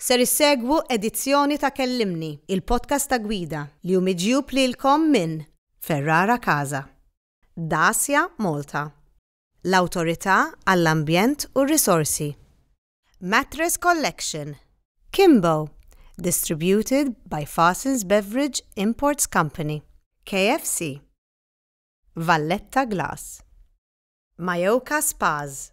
Ser issegwu edizzjoni ta' Kellimni, il-podcast ta' gwida li hu miġjub lilkom minn Ferrara Casa, Dacia Malta, l-Awtorità għall-Ambjent u r-Risorsi, Mattress Collection, Kimbo, distributed by Fasens Beverage Imports Company, KFC, Valletta Glass. Mayoka Spas.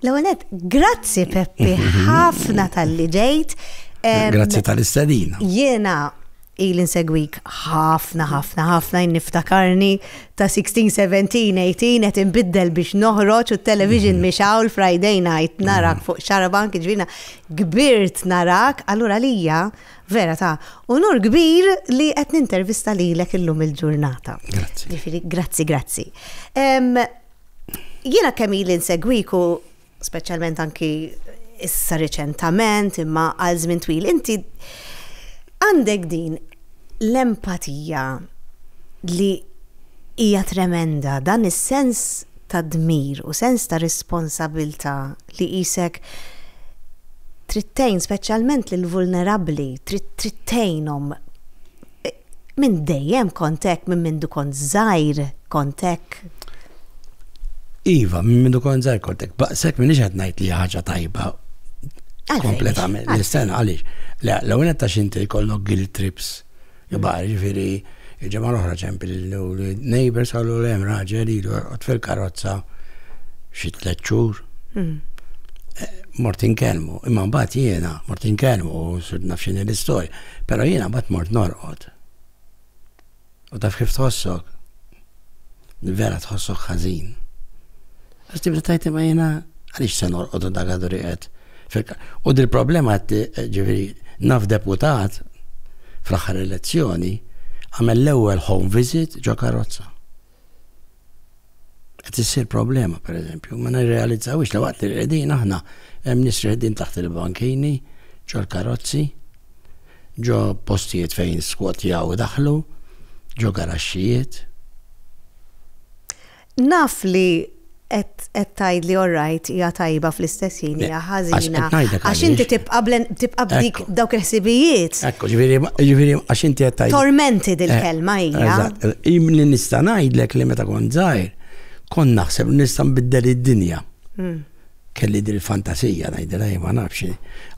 L-għonet, grazzi Peppi, mhm. ħafna tal-li ġejt. Grazzi tal-istadina. Jena, Ili nsegwik ħafna ħafna ħafna jien niftakarni ta' 16, 17, 18 qed inbiddel biex noħroġ u t-television mhix hawn Friday night narak fuq xarabank jiġifieri kbirt narak allura għalija vera ta' unur kbir li qed nintervista lilek illum il-ġurnata. Grazzi. Jiġifieri grazzi grazzi. Jiena kemm ili nsegwik u speċjalment anki issa riċentament, imma għal żmien twil, inti għandek din l-empatija li hija tremenda, dan is-sens ta' dmir u sens ta' responsabilta li jisek trittejn speċjalment lil vulnerabbli, trittejnhom Minn dejjem kont hekk, minn mindu kont żgħir kont hekk. Iva, minn mindu kont żgħir kont hekk. Baqsek minn qed ngħid li ħaġa tajba kompletament. L-istenn għaliex. L-ewwel qed tax inti jkollok guilt trips. Ibar, mm. ġifieri, ġemma l-oħra ċempil l-neighbors għallu l-hemm raġel ilu fil-karozza xi tliet xhur. Mm. Eh, Mortin kelmu, imma mbagħad jiena, Mortin kelmu, u nafxini l-istorja. Pero jiena bat mort norqod. U taf kif tħossok? Vera tħossok ħażin. Għax tibda tajt ma jiena għaliex se norqod u dak għadu riqet. U dil-problema eh, ġifieri naf deputat fl-aħħar elezzjoni għamel l-ewwel home visit ġo karozza. Qed issir problema pereżempju, ma nirrealizzawhiex li waqt li rqedin aħna hemm nies rqedin taħt il-bankini, ġol-karozzi, ġo postijiet fejn skwotjaw u daħlu, ġo garaxxijiet. Naf li Qed tgħidli all right hija tajba fl-istess ħin hija ħażina. Għax inti tibqa' tibqa' b'dik dawk il-ħsibijiet. Ekku, ġifieri ġifieri għax inti qed tgħid. Tormenti dil-kelma eh, hija. Eżatt, li nista' ngħidlek li meta kont żgħir, kont naħseb nista' nbiddel id-dinja. Hmm. Kelli dil fantasija ngħidilha ma nafx.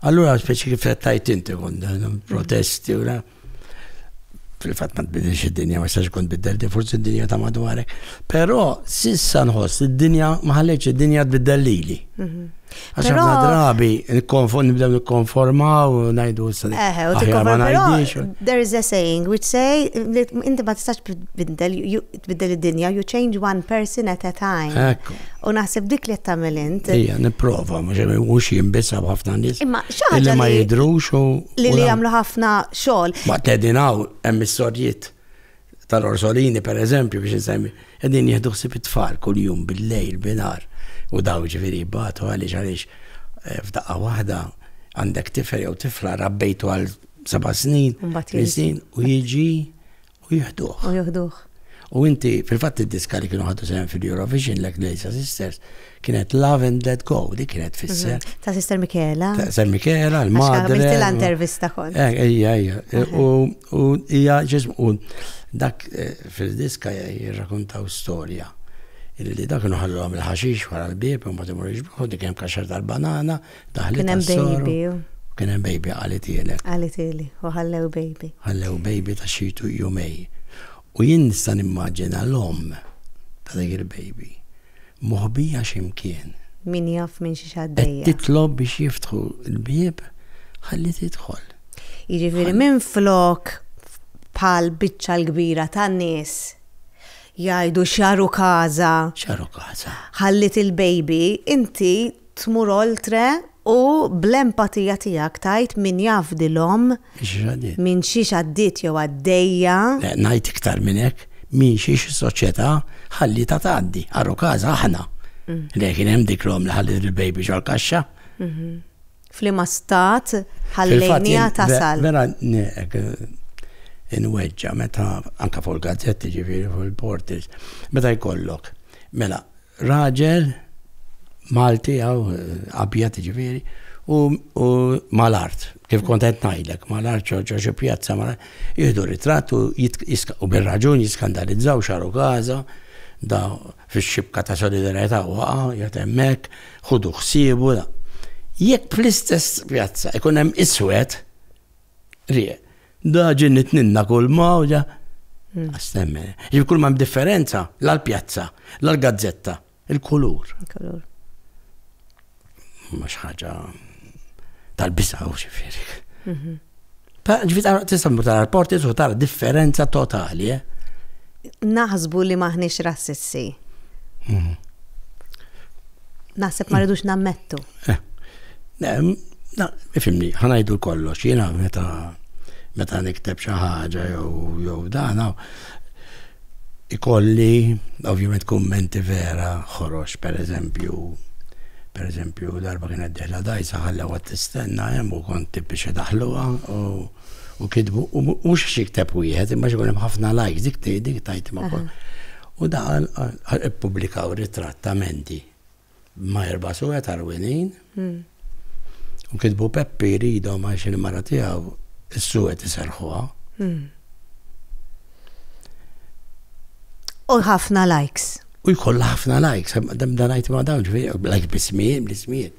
Allura speċi kif qed tgħid inti kont protesti u fil-fatt ma tbidilx id-dinja, ma jistax ikun tbiddel di forsi d-dinja ta' madwarek. Però sissa nħoss id-dinja ma ħalleċ id-dinja tbiddel lili. Mhm. Għax ħafna drabi nibdew nikkonformaw, ngħidu s Eħe, u tikkonformaw. There is a saying which say inti ma tistax tbiddel, Tbiddel id-dinja, you change one person at a time. Ekku. U naħseb dik li qed tagħmel int. Ejja, nipprova, mhux hemm mhux jien biss hemm ħafna nies. Imma xi ħaġa Illi ma li- jidrux u. Li u li la- jagħmlu ħafna xogħol. Ma tedin hawn hemm is-sorjiet tal-Orsolini per eżempju biex insemmi. Qegħdin jieħdu ħsieb it-tfal kuljum bil-lejl binar u daw ġifieri jbatu għaliex għaliex eh, f'daqqa waħda għandek tifel jew tifla rabbejtu għal seba' snin, Mbagħad tmien jiġi. snin u jiġi U jieħduh. U jieħduh. U inti, fil-fatt id-diska li kienu ħadu sehem fil-Eurovision l Glazer Sisters kienet Love and Let Go, li kienet fisser. Mhm. Ta' Sister Michaela. Ta' Sister Michaela, l-madre. Għamilti l-intervista kont. Eh, ija, ija. U ija ġism, u dak eh, fil-diska jirrakuntaw storja. Illi dak nħallu għam il-ħaxix wara l-bib, un batimur iġbuħu, dik jem kaxar tal-banana, Daħli Kien hemm tas-soro. baby. Kien hemm baby qalet ielek. Qalet ili, u ħallew baby. Ħallew baby ta' xi tu- jumej. U jien nista' nimmaġina l-omm ta' dik il-baby moħbija xi mkien. Min jaf minn xiex Qed għaddejja. titlob biex jiftħu l-bieb ħalli tidħol. Jiġifieri minflok bħal biċċa l-kbira tan-nies jgħidu xaru casa, Xaru casa. ħalliet il-baby, inti tmur oltre u bl-empatija tiegħek tgħid min jaf dil omm minn xiex għaddiet jew għaddejja. Le, ngħid iktar minn hekk, minn xiex is-soċjetà ħallietha tgħaddi, aru każ aħna. Le, kien hemm dik l-omm li ħalliet il-baby ġol-kaxxa. F'liema stat ħallejniha tasal? Vera inweġġa' meta anke fuq il-gazzetti ġifieri fuq il-portals meta jkollok mela Raġel Malti għaw abjad ġifieri u mal-art, kif kont qed ngħidlek, mal-art ċoċo xi pjazza mal jieħdu ritratt u bir-raġun jiskandalizzaw xaru Gaza da fix-xibka ta' solidarjetà waqa' jgħid hemmhekk, ħudu ħsiebu da. Jekk fl-istess pjazza ikun hemm iswed, rieq, Da ġin nitninna kull ma u ġa. Hmm. Astemme. Ġib kull ma differenza, la l-pjazza, la l-gazzetta, il-kulur. Il-kulur. Mux ħaġa tal-bisa u xifiri. Mhm. Ta' ġifit għara tista' mur tara l-porti u tara differenza totali, eh? Naħsbu li maħniex rassissi. Mhm. Naħseb ma rridux nammettu. Eh, na, ifimni, ħanajdu kollox, jena meta meta nikteb xi ħaġa jew jew dan ikolli ovvjament kummenti vera ħorox per eżempju per eżempju darba kien qed diħla dajsa ħalla għad tistenna hemm u kont biex daħluha u kitbu u mhux xikteb wieħed imma xi ħafna lajks dik dik tajt ma' U daħal għal ippubblikaw ritratt ta' Mandy ma' erba' suwed għarwinin. Hmm. U kitbu Peppi jridhom għax il-mara tiegħu is-suwed iserħuha. Hmm. U ħafna likes. U jkollha ħafna likes, dan ngħid ma' dawn ġifieri like bismijiet, bl-ismijiet.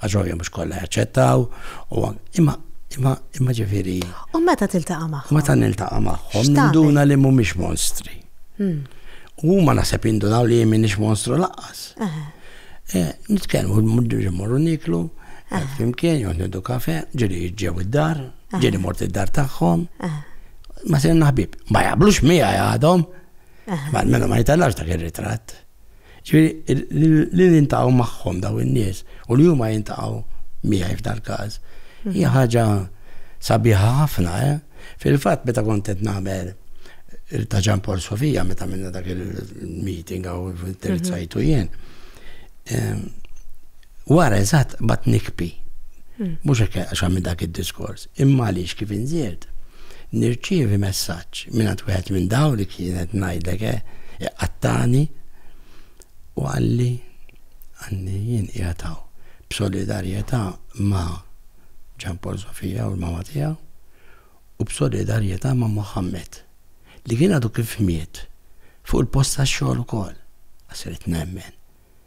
Għax ovvja mhux kollha jaċċettaw, u imma imma imma ġifieri. U meta tiltaqa' magħhom? Meta niltaqa' magħhom, ninduna li mhumiex monstri. Hmm. U huma naħseb jindunaw li jien minix monstru laqqas. Eh, nitkellmu muddu ġimmorru niklu, eh, flimkien, jgħod nidu kafe, ġiri ġew id-dar, ġiri mort id-dar tagħhom. Ma se naħbib, ma jablux mija għadhom. Ma mela ma jitallax dak ir-ritratt. Ġifieri li nintaqgħu magħhom daw in-nies u li huma jintaqgħu miegħi f'dal-każ hija ħaġa sabiħa ħafna, eh? Fil-fatt meta kont qed nagħmel ta' Ġan Paul Sofija meta minna dak il-meeting għaw interessajtu jien. Wara eżatt bat nikpi. Mhux hekk għax għamil dak id-diskors, imma għaliex kif inżirt nirċievi messaġġ mingħand wieħed minn dawn li kienet ngħidlek eh, iqattagħni u qalli għandi jien qiegħed hawn b'solidarjetà ma' Ġan Paul Sofija u l-mama tiegħu u b'solidarjetà ma' Mohammed li kien għadu kif miet fuq il-post tax-xogħol ukoll. Għasiret nemmen.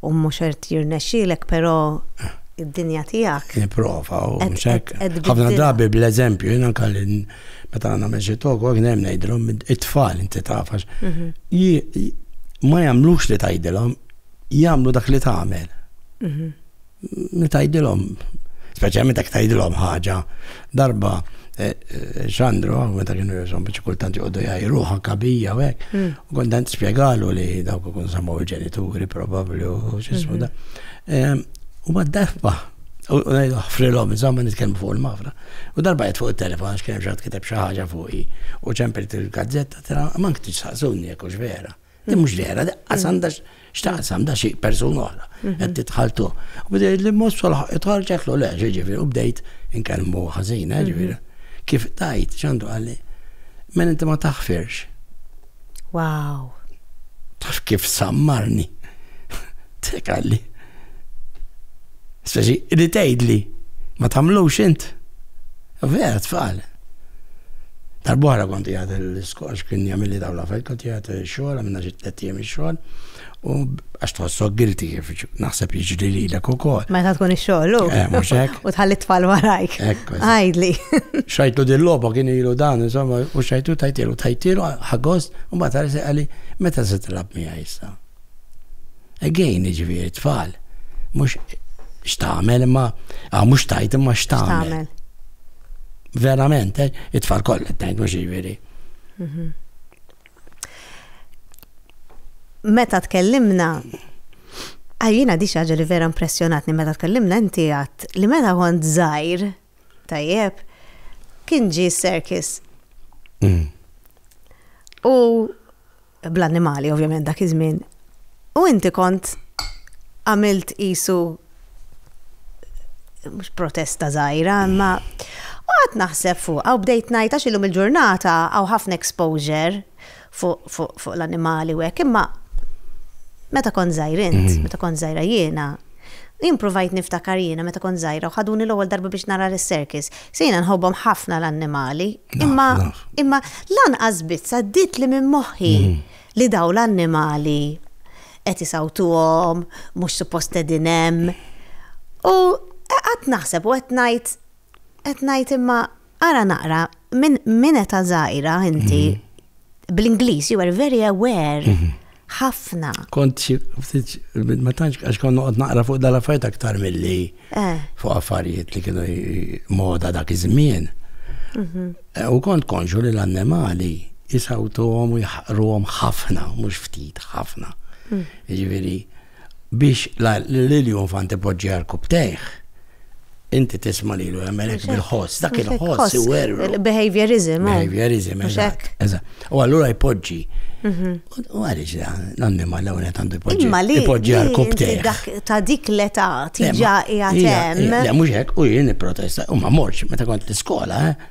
u mhux qed jirnexxielek però id-dinja tiegħek. Nipprova u xek. Ħafna drabi bl-eżempju jiena kalli meta nagħmel xi tok u hemm ngħidilhom it-tfal inti tafax. Mhm. Ma jagħmlux li tgħidilhom, jagħmlu dak li tagħmel. Mhm. Nitajdilhom, speċjalment dak tajdilhom ħaġa, darba eh, eh, Xandru, meta kienu jisom biex kultant jgħoddu jgħajru ħanka bija u hekk, mm. u kontant spjegalu li dawk ikun samaw il-ġenituri probabbli u xismu mhm. da. U ma d-darba U ngħidu ħfrilhom insomma nitkellmu fuq il-mafra. U darba qed fuq it-telefon għax kien ġat kiteb xi ħaġa fuqi u ċempert il-gazzetta tara ma nktix saqsuni jekk hux vera. Din mhux dera, qas għandha x'taqsam da xi persuna oħra mhm. qed titħaltu. U bdejt li mhux solaħ itħall ġeklu le, ġifieri u bdejt inkellmu ħażin, eh, mhm. ġifieri. Kif tajt ċandu għalli, men inti ma taħfirx. Wow. Taf kif sammarni. Tek għalli. Speċi, li tgħidli, ma tagħmlux int. Vera tfal. Darba oħra kont qiegħed l-iskox kien jagħmilli dawn l-affarijiet kont qiegħed xogħol għamilna xi tliet ijiem ix-xogħol u għax tħossok guilty kif naħseb jiġri lilek ukoll. Meta tkun ix-xogħol u. Eh, mhux hekk. U tħalli tfal warajk. Ekk. Għajdli. Xajtu din logħba kien ilu dan, insomma, u xajtu tajtilu, tajtilu ħagost u mbagħad għalli meta se tilab miegħi issa. Again, ġifieri tfal, mhux x'tagħmel imma ah, mhux tajt imma x'tagħmel. Verament, eh, it-tfal kollha tajt mhux ġifieri. Mhm. Meta tkellimna Għajjina di xaġa li vera impressjonatni meta tkellimna inti għat li meta kont zaħir, Tajjeb, kien ġi s-serkis. Mm. U bl-annimali, ovvjament, dak iż-żmien. U inti kont għamilt isu mhux protesta żgħira, imma u għad naħseb fuq, għaw bdejt ngħid għax illum il-ġurnata għaw ħafna exposure fuq l-annimali u hekk, imma meta kont żgħir int, mhm. meta kont żgħira jiena, jien provajt niftakar jiena meta kont żgħira u ħaduni l-ewwel darba biex nara l-circus. Sejna nħobbhom ħafna l-annimali, imma imma lanqas biss għaddiet li minn moħħi mhm. li daw l-annimali qed isawtuhom, mhux suppost qegħdin hemm. U qed naħseb u qed ngħid qed ngħid imma Ara naqra, minn min età żgħira inti bl-Ingliż you were very aware mhm. ħafna. Kont xi ftit ma tantx għax kont noqgħod naqra fuq dal-affarijiet aktar milli eh. fuq affarijiet li kienu moda dak iż-żmien. Mhm. Eh, u kont konxu li l-annimali jisawtuhom u jħaqruhom ħafna, mhux ftit ħafna. Mm. Jiġifieri Biex Lilju Infanti poġġi għarku b'tejh, inti tisma' lilu jagħmel hekk bil-ħoss, dak il-ħoss iwerru. Behaviorism. Eh? Behaviorism, eżatt. U allura jpoġġi. Mhm. U għaliex l-annima l għunet għandu jpoġġi. Imma li jpoġġi għal kubtej. Ta' dik l-età tiġa jgħatem. Le, mhux hekk, u jien protesta, u ma morx meta kont l-iskola, eh?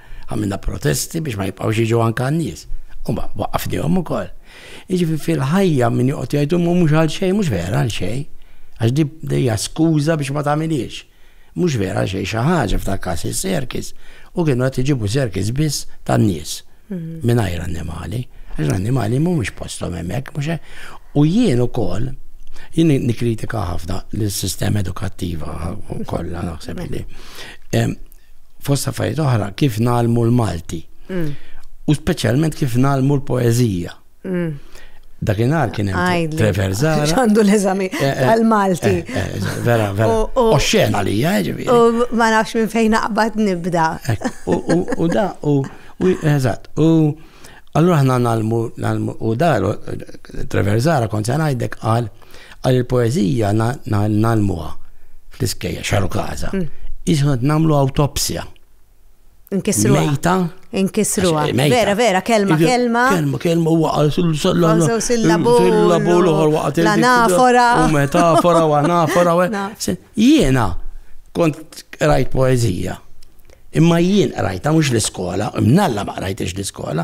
Għamilna protesti biex ma jibqgħux jiġu anke għan-nies. U ma waqqafnihom ukoll. Jiġifieri fil-ħajja min joqgħod jgħid imma mhux għal xejn, mhux vera għal xejn. Għax di hija skuża biex ma tagħmilhiex. Mhux vera għal xejn xi ħaġa f'dak każ is-serkis u kienu qed iġibu serkis biss tan-nies mhm. mingħajr annimali. Għax l-annimali mhumiex posthom hemmhekk, mhux U jien ukoll jien nikkritika ħafna l-sistema edukattiva kollha naħseb li fost affarijiet oħra, kif nalmu l-Malti. Mm. U speċjalment kif nalmu l-poezija. Mm. Dakinhar kien hemm Trevor Zara. Għandu l-eżami eh, eh, għal-Malti. Eh, vera, vera. U xena li ġifieri. U ma nafx minn fejn naqbad nibda. U da, u eżatt, u allura ħna nalmu, u da, Trevor Zara kont se ngħidlek qal Qal il-poeżija ngħallmuha fl-iskejjel xaru każa. Qisu qed nagħmlu awtopsja. Inkisruha. Mejta. Inkisruha. Vera, vera, kelma, kelma. Kelma, kelma, huwa qal sillabul. Sillabul uħor waqgħet. Anafora. U metafora u anafora. Jiena kont rajt poeżija. Imma jien qrajta mhux l-iskola, imnalla ma qrajtix l-iskola,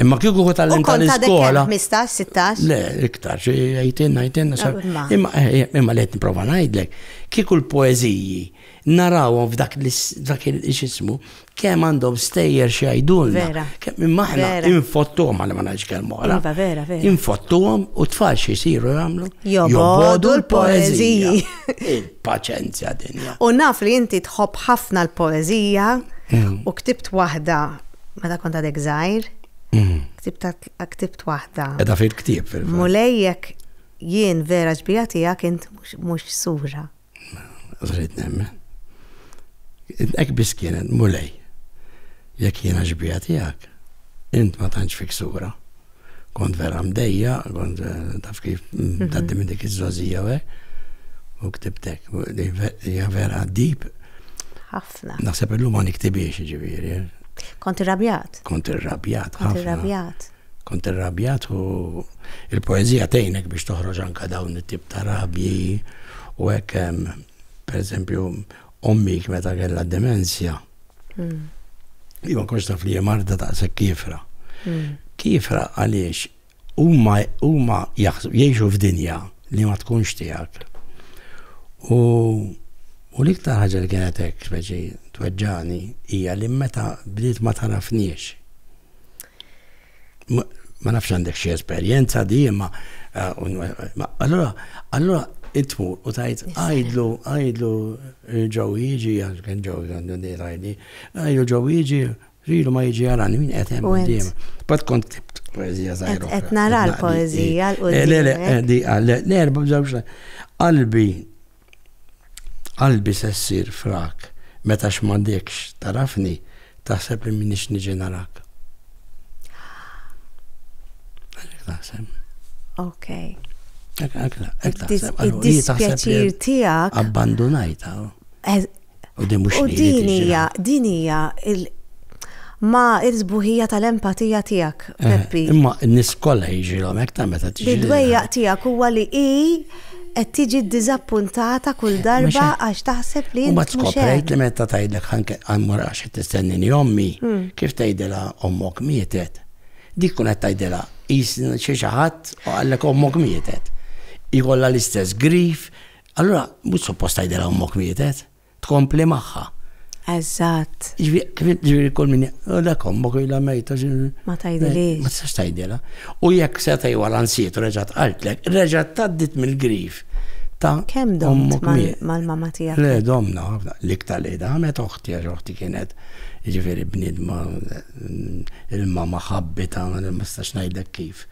Imma kieku kut għallim tal-iskola. 15, 16? Le, iktar, xie għajtin, għajtin, imma eh, eh, imma li għetni prova najdlek, kieku l-poeziji narawhom f'dak il-xismu, kem għandhom stejjer xie għajdulna. Kem imma ħna infottuhom għal ma naġ kelmu għala. Iva, vera, vera. Infottuhom u tfal xie siru għamlu. Jobodu l-poeziji. Il-paċenzja dinja. U naf li inti tħobb ħafna l-poezija mm. u ktibt waħda meta kont għadek żgħir, ktibt waħda. Edha fil-ktieb fil Mulejjek jien vera ġbija tiegħek int mhux sura. Żrid nemmen. Ek biss kienet mulej. Jekk jiena ġbija tiegħek, int ma tantx fik sura. kont vera mdejja, kont eh, taf kif mhm. taddi minn dik iż-żożija u u ktibtek, hija vera dip. Ħafna. Naħseb illum ma niktibiex ġifieri. Eh. Kont irrabjat. Kont irrabjat. Kont irrabjat. Kont irrabjat u il-poezija tgħinek biex toħroġ anka dawn it-tip ta' rabji u hekk per eżempju ommik meta kellha demenzja. Hmm. Li ma konx taf li hija marda daqshekk kifra. Hmm. Kifra għaliex huma huma jgħixu f'dinja li ma tkunx tiegħek. U u l-iktar ħaġa li kienet hekk speċi tweġġani hija li meta bdiet ma tarafniex. ma nafx għandek xi esperjenza di, imma allura allura intmur u tajt għajdlu għajdlu ġew jiġi għal kien ġew għandu di rajdi, għajdlu ġew jiġi rilu ma jiġi għarani min qed hemm qudiem. Bad kont kibt poezija żgħira. Qed nara l-poezija l-qudiem. Le le, di għal l-erba' bżewġ qalbi Qalbi se ssir frak meta x'mandekx tagħrafni taħseb li minix niġi narak. Għalek taħseb. Ok. Id-dispjaċir tiegħek. Abbandunajta. U din mhux li din hija din hija ma il-sbuħija tal-empatija tiegħek, eh, Peppi. Imma n-nies kollha jiġilhom hekk ta' meta tiġi. Id-dwejjaq tiegħek huwa li hi qed tiġi ddiżappuntata kull eh, darba għax taħseb li ma tkoprejt li meta tgħidlek ħanke għammur għax qed tistennini ommi, hmm. kif tgħidilha ommok mietet. Dik kun qed tgħidilha jisni xi ħadd u għallek ommok mietet. Ikolla l-istess grif, Allura mhux suppost tgħidilha ommok mietet, tkompli magħha. Eżatt. Ġifieri kull min dak ommok ilha mejta. Ma tgħidilix. Ma tistax tgħidilha. U jekk se tgħid wara nsiet u reġgħet qaltlek, reġgħet tgħaddit mill-grif ta' kemm dommok mal-mama tiegħek. Le domna, l-iktar li damet oħti għax oħti kienet ġifieri bnidma il-mama ħabbita ma nistax ngħidlek kif.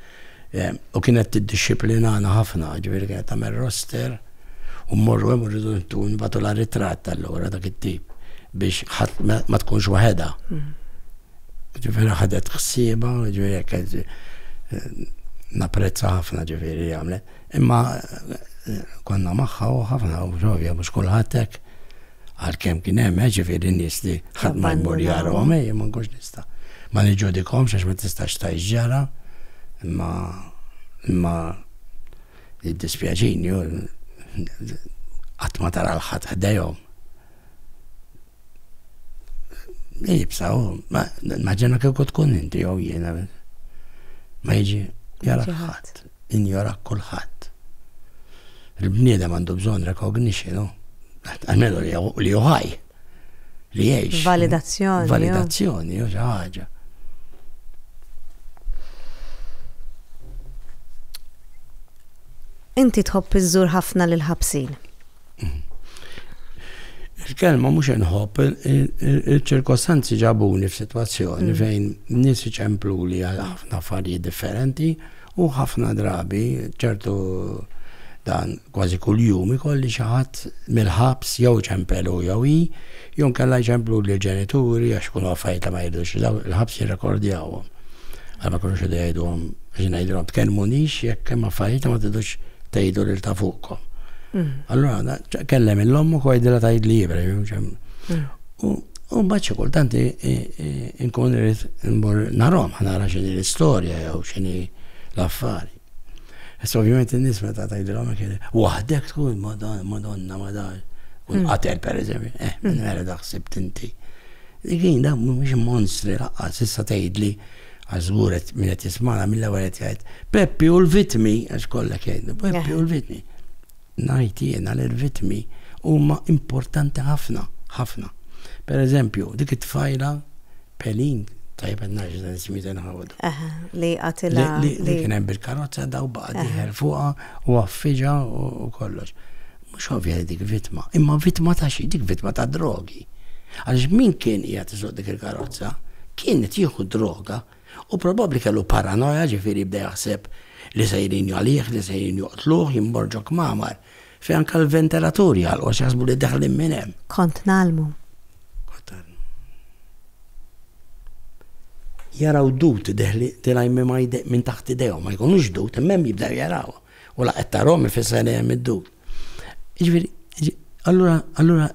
U kienet tiddixxiplinana ħafna, ġifieri kienet tagħmel roster u mmorru hemm u rridu nibgħatulha ritratt allura dak it-tip biex ħadd ma tkunx waħedha. Ġifieri ħadet ħsiebha, ġifieri kienet napprezza ħafna ġifieri li għamlet. Imma konna magħha u ħafna u ġovja mhux kulħadd hekk. Għalkemm kien hemm, eh, ġifieri nies li ħadd ma jmur jarahom, eh, ma nkunx nista'. Ma niġġudikhomx għax ma tistax tgħix ġara, imma imma jiddispjaċini qatt ma tara l-ħadd ħdejhom. Ibsa, ma ġenna kieku tkun inti jew jiena. Ma jiġi jara ħadd. injorak kulħadd. Il-bniedem għandu bżonn recognition, no? Għamilu li juħaj, li jgħix. Validazzjoni. Validazzjoni, jo ħaġa. Inti tħobb iżżur ħafna lil ħabsin. Mhm. Il-kelma mhux inħobb, il-ċirkostanzi ġabuni f'sitwazzjoni mm. fejn nies iċemplu li għal ħafna affarijiet differenti. U ħafna drabi, ċertu dan kważi kuljum ikolli xi ħadd mill-ħabs jew iċempel hu jew hi, jew inkella jċempluli l-ġenituri għax ikunu affarijiet li ma jridux li dawk il-ħabs jirrekordjawhom. Għal ma jkunux idu jgħiduhom biex ngħidilhom tkellmunix jekk hemm affarijiet li ma tridux tgħidu lil ta' fuqkom. Allura kellem il-omm ukoll jidilha tgħidli jibra. U mbagħad xi kultant inkun irid immur narhom ħnara x'inhi l-istorja jew x'inhi l-affari. Issa ovvjament in-nies meta tgħidilhom hekk waħdek tkun Madonna ma dan. Kun hmm. qatel pereżempju, eh, minn mela hmm. daħsib tinti. Dikin da mhux monstri laqqas issa tgħidli għażguret minn qed jismana mill-ewwel qed jgħid Peppi u l-vitmi għax kollha kien, Peppi u l-vitmi. Ngħid jiena li r-ritmi huma importanti ħafna, ħafna. Per eżempju, dik it-tfajla Pelin, tajjeb qed ngħid dan ismijiet inħawdu. Eħe, li qatilha. Li kien hemm bil-karozza daw baqa' dieħel fuqha u affiġa u kollox. Mhux ovvja li dik vittma, imma vittma ta' xi, dik vittma ta' drogi. Għaliex min kien qiegħed iżoq dik il-karozza kien qed jieħu droga Hu probabbli kellu paranoja, ġifieri bda jaħseb li sejrin jagħlih, li sejrin joqtluh, jien mort ġo kmamar fejn anke l-ventilaturi għalqu għax jaħsbu li deħlin minn hemm. Kont ngħallmu. Kont ngħallmu. Jaraw dud deħli, tilgħajn mimgħajde minn taħt idejhom, ma jkunux dud, imma hemm jibdew jarawhom. U la qed tarahom ifisser li hemm id-dub. Jiġifieri, allura, allura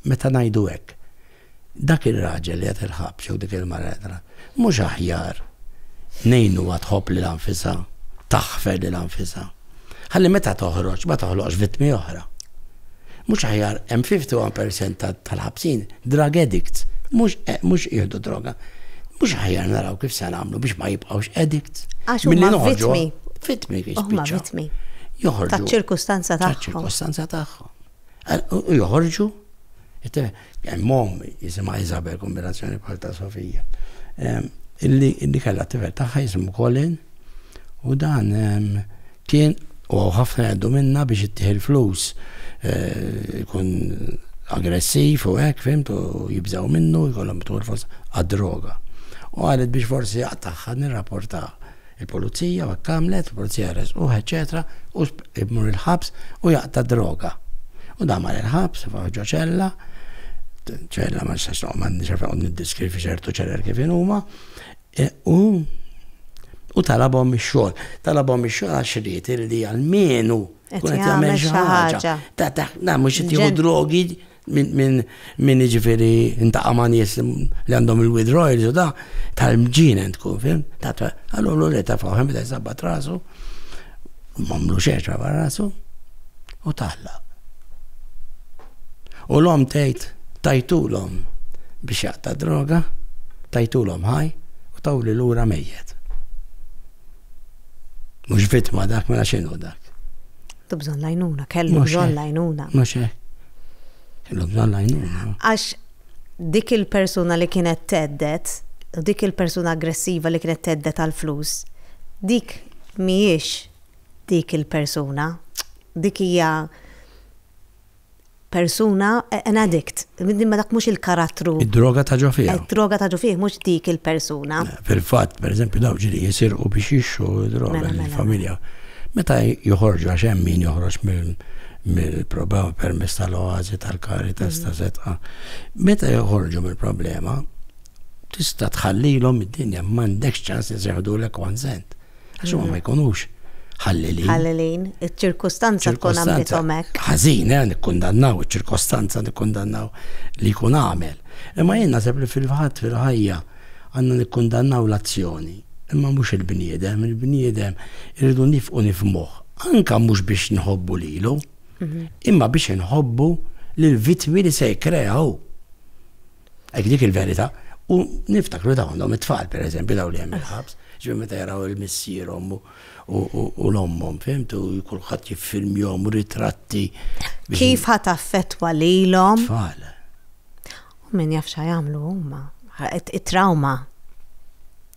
meta ngħidu hekk, dak ir-raġel li qed il-ħabs jew dik il-mara qed il-ħabs, mhux aħjar ngħinuha tħobb lilha nfisha, taħfer lilha nfisha, ħalli meta toħroġ ma toħloqx vittmi oħra. Mhux aħjar hemm 51 percent tal-ħabsin drug addicts, mhux mhux jieħdu droga. Mhux aħjar naraw kif se nagħmlu biex ma jibqgħux addicts. Għax huma vittmi. Vittmi kif Huma vittmi. Joħorġu. Taċ-ċirkustanza tagħhom. Taċ-ċirkustanza tagħhom. Joħorġu Hemm omm jisimha Isabel, kombinazzjoni bħal ta' Sofija, illi kellha tifel tagħha jismu Colin u dan kien u hawn ħafna jgħaddu minnha biex ittih il-flus ikun aggressiv u hekk fhimt u jibżgħu minnu jkollhom tul forsi għad-droga. U qalet biex forsi aqtagħha nirrapportah. Il-pulizija u hekk għamlet, il-pulizija resquh eċċetera u imur il-ħabs u jaqta' d-droga. U dan mar il-ħabs, faħ ġo ċella, ċella ma nistax noqgħod ma nixef noqgħod niddiskrivi ċertu ċeller kif inhuma, u u talabhom ix-xogħol. Talabhom ix-xogħol għax ried li almenu Qed kun qed jagħmel jagħmel xi xi ħaġa. ħaġa. Ta' ta' na mhux qed jieħu Ġen- drogi Min jiġifieri intaqa' ma' nies li għandhom il-weed royals u da, tal-mġienen tkun, fimt? Allura l-ulied ta' Fawħ beda jżabbat rasu, m'għamlu xejn xabar rasu, u tgħallaq. U l-omm tgħid tajtulhom biex jaqta' d-droga, tajtulhom ħaj u tawli lura mejjet. Mhux vittma dak mela x'inhu dak? Tu bżonn lajnuna, kellu bżonn lajnuna. Mhux hekk. Kellu bżonn lajnuna. Għax dik il-persuna li kienet teddet, u dik il-persuna aggressiva li kienet teddet għal flus, dik mhijiex dik il-persuna, dik hija persuna, an addict, imma dak mhux il-karattru. Id-droga ta' ġo fih. Id-droga ta' ġo fih mhux dik il-persuna. Eh, fil-fatt, pereżempju, daw ġiri jisirqu biex jixxu droga mela, mela. lill-familja. Meta joħorġu għax hemm min joħroġ mill-problema permess tal-oazi tal-karitas ta' setqa. Mm. Meta joħorġu mill-problema, tista' tħallilhom id-dinja m'għandekx ċans iseħħdu l-ekwan sent. Għax huma ma jkunux ħallilin. Ħallilin, iċ-ċirkustanza tkun għamlithom hekk. Ħażin, eh, nikkundannaw iċ-ċirkostanza nikkundannaw li jkun għamel. Imma jien naħseb li fil-fatt fil-ħajja għandna nikkundannaw l-azzjoni, imma mhux il-bniedem, il-bniedem irridu nifqu nifmuh, anka mhux biex nħobbu lilu, mhm. imma biex inħobbu lill-vittmi li se jkreaw. Hekk dik il-verità. U niftakru dawn għandhom it-tfal, per eżempju, dawn li hemm il-ħabs, ġifieri meta jaraw il-missierhom u l-ommhom, fimt, u kulħadd jiffilmjhom ritratti. Kif ħa taffettwa lilhom? Tfal. U min jaf xa jagħmlu huma. It-trauma.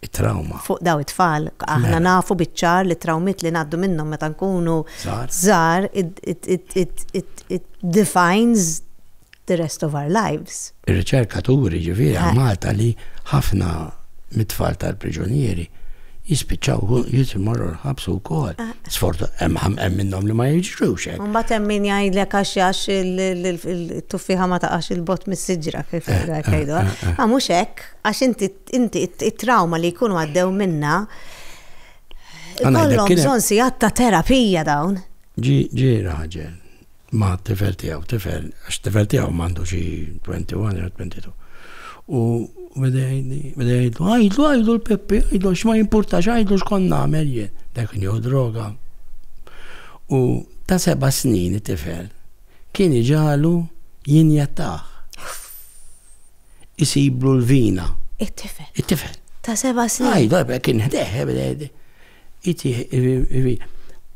It-trauma. Fuq daw it-tfal, aħna mela. nafu biċ-ċar li trawmiet li ngħaddu minnhom meta nkunu żgħar, it defines the rest of our lives. Ir-riċerka turi ġifieri għal Malta li ħafna mit-tfal tal-priġunieri jispiċċaw jisimorru l-ħabs ukoll. Ah. Sfortu hemm minnhom li ma jiġrux hekk. Mbagħad hemm min jgħidlek għax għax il-tuffiħa ma taqax il-bot mis-siġra kif eh, eh, jgħidu. Ma eh, ah, mhux hekk għax inti it-trauma li jkunu għaddew minna kollhom bżonn sigħat ta' terapija dawn. Ġi raġel ma' tifel tiegħu, tifel, għax tifel tiegħu m'għandu xi 21 jew 22. U beda jgħidli, beda jgħidlu, għajdlu, għajdlu l-Peppi, għajdlu x'ma jimpurtax, għajdlu x'kont nagħmel jien. Dak nieħu droga. U ta' seba' snin it-tifel kien iġalu jinjettaħ. Isiblu l-vina. It-tifel. It-tifel. Ta' seba' snin. Għajdu, kien ħdeħ, beda jgħidli.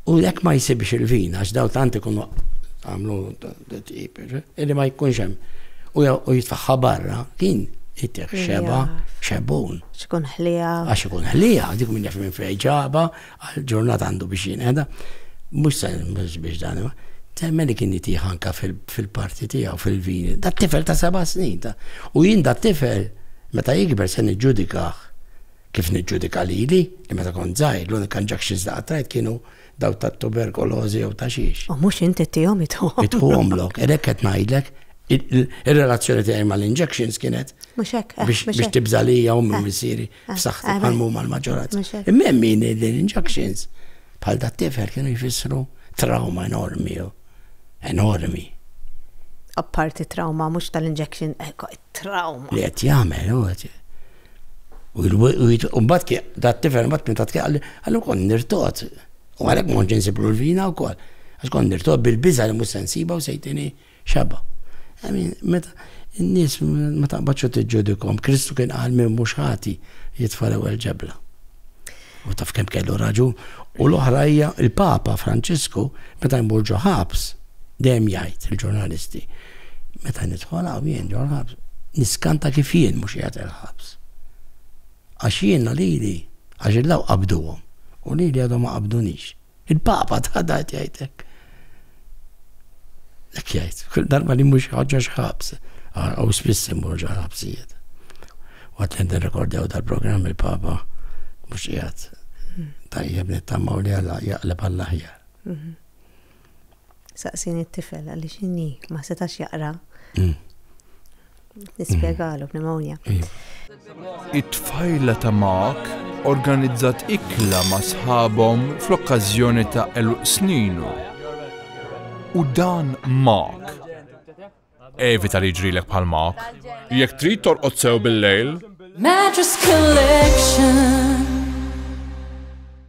U jekk ma jsibx il-vin, għax daw tant ikunu għamlu tqib, illi ma jkunx hemm. U jitfaħħa barra, din jittiħ xeba, xebun. Xkun ħlija. Għax ikun ħlija, dik minn jaf minn fej ġaba, għal-ġurnat għandu biex jinqeda. Mux sa' biex dan, temmen li kien jittiħ anka fil-parti tijaw, fil-vin. Da' tifel ta' seba snin. U jien da' tifel, meta jikber se nġudikaħ. Kif niġġudika lili, li meta kont żgħir l-unika injunctions li qattajt kienu dawk tat-tuberkolożi jew ta' xiex. U mhux inti ttihom itħuhom. Itħuhomlok, għalhekk qed ngħidlek, ir-relazzjoni tiegħi mal-injunctions kienet biex tibża' lija ommi u missieri f'saħħti bħal ma huma l-maġġoranza. Imma hemm min li l-injunctions bħal dat-tifel kienu jfissru trawma enormi, enormi. Apparti trawma mhux tal-injection, trawma. Li qed jagħmel, U mbagħad dat tifel mbagħad minn tat għalli għallu kon nirtot. U għalhekk ma kontx insiblu l-vina wkoll. Għax kon nirtot bil-biża li mhux sensiba u sejtini xaba. Għamin, meta n-nies ma taqbadx u tiġġudikom, Kristu kien qal minn mhux ħati jitfa' l-ewwel ġebla. U taf kemm kellu raġun. U l-oħra hija l-Papa Franċisku meta jmur ġo ħabs dejjem jgħid il-ġurnalisti meta nidħol hawn jien ġo ħabs niskanta kif jien mhux qiegħed il-ħabs. Għax jiena lili għax il-law qabduhom u lili għadhom ma qabdunix. Il-Papa ta' dajt jgħid hekk. Hekk jgħid, kull darba li mhux ħaġa x'ħabs, u spiss imur ġo ħabsijiet. Waqt li nirrekordjaw dal-programm il-Papa mhux qiegħed tajjeb nittamaw li għalla jaqleb għall-aħjar. Mhm. Saqsin it-tifel għaliex inni ma setax jaqra. Mm. Nispjegalu pneumonia. It-tfajla ta' Mark organizzat ikla ma' sħabhom fl-okkażjoni ta' eluq sninu. U dan Mark. Evita li ġrilek bħal Mark. Jekk trid torqod sew bil-lejl. Mattress Collection.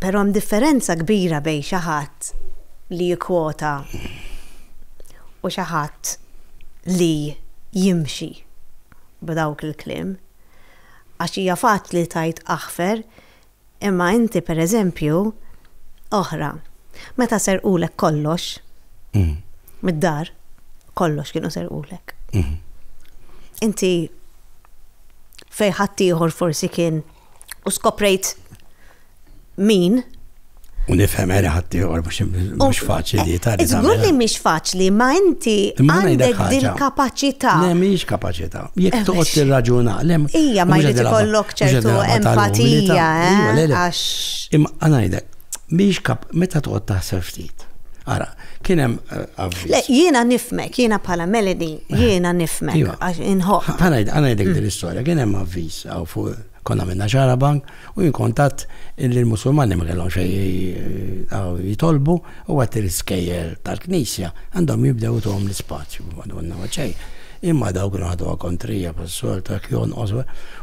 Però hemm differenza kbira bejn xi ħadd li jikkwota u xi ħadd li jimxi b'dawk il-kliem. Għax hija faċli tgħid aħfer Imma inti, per eżempju, oħra, meta serqulek kollox, mid-dar, kollox kienu serqulek. Inti fejn ħaddieħor forsi kien u skoprejt min, U nifhem għera ħaddieħor mhux faċli ta' li. Żgur li mhix faċli, ma inti għandek dil-kapaċità. Le mhix kapaċità. Jekk eh, toqgħod tirraġuna, le. Ija ma jrid ikollok ċertu empatija, eh, għax. Imma ngħidek, mhix kap meta toqgħod taħseb ftit. Ara, kien hemm eh, Le, jiena nifmek, jiena bħala Melody, jiena nifmek. Iva. Inħoq. Għanajdek din l-istorja, kien hemm avviż fuq Konna għamilna xahra bank u jien kont għadt li l-Musulmani ma kellhom xejn jitolbu u għadt li l-iskejjel tal-Knisja għandhom jibdew ituhom l-ispazju. Madonna ma xejn. Imma dawk kienu ħaduha kontrija bħas-soltu hekk jonqos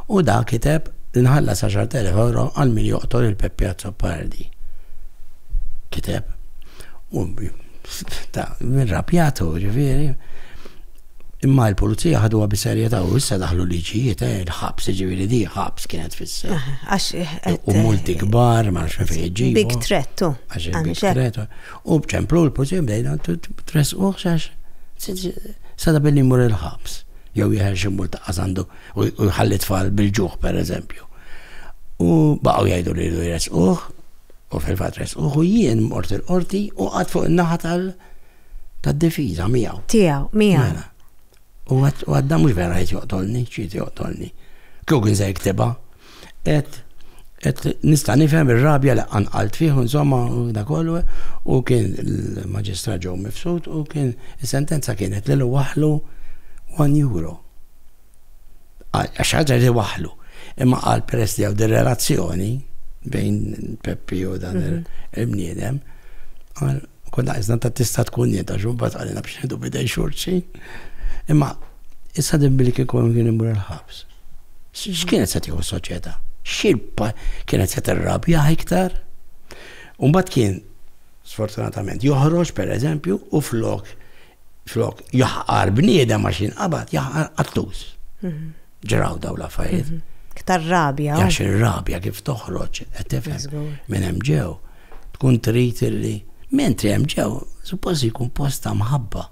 u da kiteb li nħallas 10,000 euro għal min joqtol il-Peppi Azzopardi. Kiteb. U ta' min rapjatu, ġifieri, Imma il-pulizija ħaduha bi serjetà u issa daħlu liġijiet, eh, il-ħabs, ġifieri di ħabs kienet fissa. Ah, għax eh, eh, U multi kbar, ma nafx fejn iġibu. Big threat, tu. Għax il-big threat. U bċemplu l-pulizija bdejna tres uħx għax sada billi mur il-ħabs. Jew jħer xi multa għasandu u jħalli tfal bil-ġuħ, per eżempju. U baqgħu jgħidu li jres uħ, u fil-fat res uħ u jien mort il-qorti u għad fuq il-naħa tal- Tad-difiża miegħu. Tiegħu, miegħu. Mela. U għadda mhux vera qed joqtolni, x'qed joqtolni. Kieku kien se jiktibha, qed qed nista' nifhem ir-rabja li qanqalt fih insomma da kollu u kien il-maġistrat ġew mifsud u kien is-sentenza kienet li waħlu 1 euro. Qal, għax ħaġa li waħlu. Imma qal peress li hawn din relazzjoni bejn Peppi u dan mhm. il-bniedem, qal konna iżna ta' tista' tkun jien ta' xumba tqalina biex nidu bidej xurċi. Imma issa din billi kien kollu kien imur il-ħabs. X'kienet se tieħu soċjetà? Xirpa kienet se tirrabja iktar? Umbat kien, sfortunatament, joħroġ per eżempju u flok Flok, jaħqar bniedem għax jinqabad, jaħqar qattus. Mhm. Ġraw daw la fajt. Mhm. Ktar rabja. Għax il-rabja kif toħroġ, għetifem, minn hemm ġew. Tkun trit li, mentri hemm ġew, suppost jkun posta mħabba.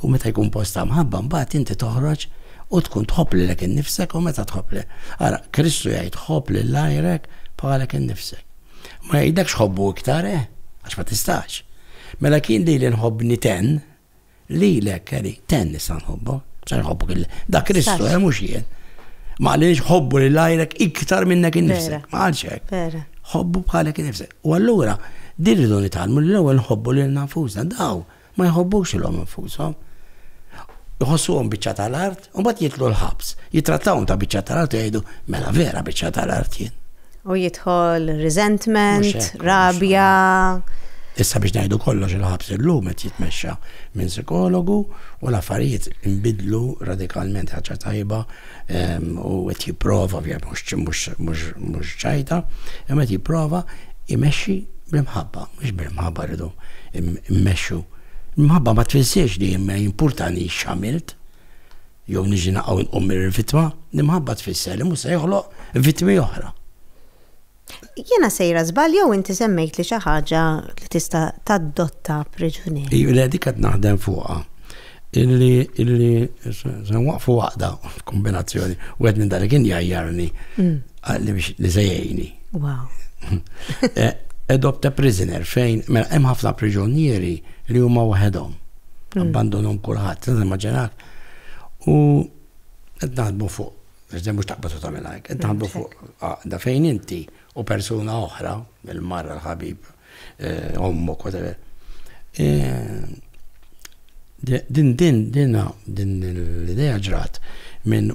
U meta jkun posta mħabba, mbagħad inti toħroġ u tkun tħobb lilek innifsek u meta tħobb li. Ara, Kristu jgħid tħobb lil lajrek bħalek innifsek. Ma jgħidlekx ħobbu iktar, eh? Għax ma tistax. Mela kien lili nħobbni ten, lilek, Kelly, ten nista' nħobbu. Sa nħobbu kien da Kristu, eh, mhux jien. Ma għaliex ħobbu li lajrek iktar minnek innifsek. Ma għalx hekk. Ħobbu bħalek innifsek. U allura, din rridu nitalmu l-ewwel nħobbu lil nafusna daw. Ma jħobbux lilhom infushom. Iħossuhom biċċa tal-art u mbagħad jidħlu l-ħabs. Jittrattawhom ta' biċċa tal-art u jgħidu, mela vera biċċa tal-art jien. U jidħol resentment, rabja. Issa biex ngħidu kollox il-ħabs illum qed jitmexxa minn psikologu u l-affarijiet inbidlu radikalment ħaġa tajba u qed jipprova ovvjament mhux mhux ċajta, imma qed jipprova imexxi bl-imħabba, mhux bil-imħabba rridu immexxu. Imħabba ma tfissirx li ma importani x'għamilt jew niġi naqgħu nqum mir-vitma, l-imħabba tfisser li mhux se joħloq vitmi oħra. Jiena sejra żball jew inti semmejtli xi ħaġa li tista' tadotta priġunier. Iju le dik qed naħdem fuqha. Illi illi se waqfu waqda f'kombinazzjoni u qed minn dalik injajjarni mm. li se jgħini. Wow. Eh, adopt a prisoner fejn mela hemm ħafna priġunieri li huma waħedhom. Mm. Abbandonhom kulħadd, immaġinak. U qed naħdmu fuq Iżda mhux taqbad u tagħmel hekk. Qed naħdmu fuq għaqda fejn inti u persuna oħra, il-marra l-ħabib, eh, ommok, whatever. Eh, din din din din l-idea ġrat minn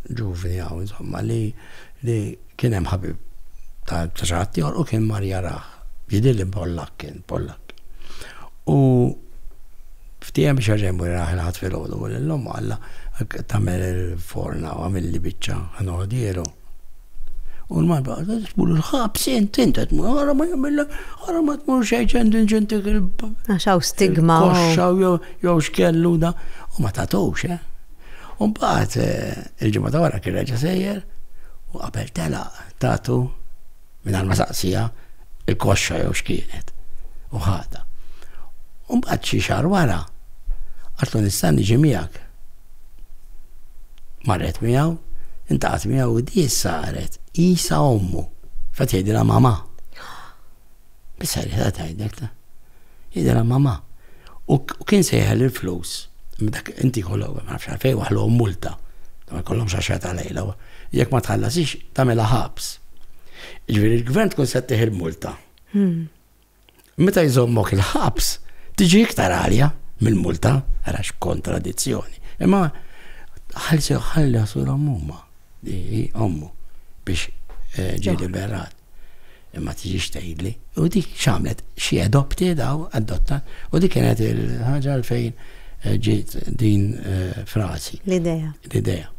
ġuvni għaw, insomma, li li kien hemm ħabib ta' ċaħat tiegħu u kien mar jaraħ. Jidil li Pollak kien Pollak. U Ftiehem biex jerġa' jmur jaraha l-Ħadd filgħodu u lil ommu qallha, Tagħmel il-forna u għamilli biċċa ħa noħdieru. U l-mara baqgħet qed tmur il-ħabs int int qed tmur ara ma jagħmilha ara ma tmur xejn ċend inġentik il Għax hawn stigma. Koxxa jew x'kellu da u ma tagħtux, eh. U mbagħad eh, il-ġimgħa ta' wara kien reġa' sejjer u qabel telaq tagħtu mingħajr ma saqsija il-koxxa jew x'kienet u ħadha. U mbagħad xi xahar wara għatlu nista' niġi miegħek. Marret miegħu, intaqat miegħu u di saret isa ommu. Fat jgħidilha mama. Bis-serjetà tgħidlek ta. Jidhirha mamà. U kien se jeħel il-flus. Dak inti jkollok, ma nafx għalfejn waħlhom multa. Ma jkollhomx għaxra ta' lejla. Jekk ma tħallasix, tagħmilha ħabs. Ġifieri l-gvern tkun se ttieħ il-multa. Hmm. Meta jżommok il-ħabs, tiġi iktar għalja mill-multa, għax kontradizzjoni. Imma ħalsew ħalli għasura mumma. Hi ommu biex ġie liberat. Imma tiġix tgħidli. U dik x'għamlet? Xi adopted daw, adotta, u dik kienet il-ħaġa fejn eh, ġiet din eh, frażi. L-idea. L-idea.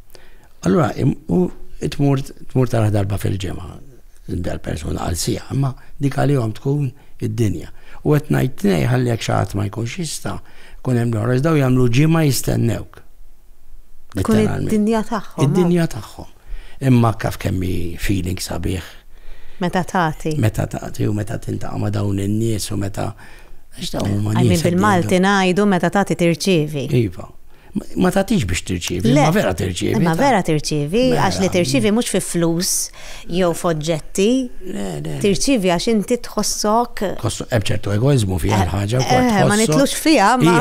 Allura, u tmur tmur tara darba fil-ġimgħa dal-persuna għal sija, imma dik għalihom tkun id-dinja. U qed ngħid nej ħalli jekk xi ma jkunx jista' kun hemm l-ħoros daw jagħmlu ġimgħa jistennewk. Tkun id-dinja tagħhom. Id-dinja tagħhom. Imma kaf kemm hi feeling sabiħ. Meta tagħti. Meta tagħti u meta tintaqa' ma' dawn in-nies u meta għax dawn huma nies. Għajmi bil-Malti ngħidu meta tagħti tirċievi. Iva. Ma tagħtix biex tirċievi, ma vera tirċievi. Ma vera tirċievi, għax li tirċievi mhux fi flus, jew f'oġġetti. Le, le. Tirċievi għax inti tħossok. Tħossok hemm ċertu egoizmu fiha eh, l-ħaġa eh, wkoll. Eh, ma nitlux fiha, ma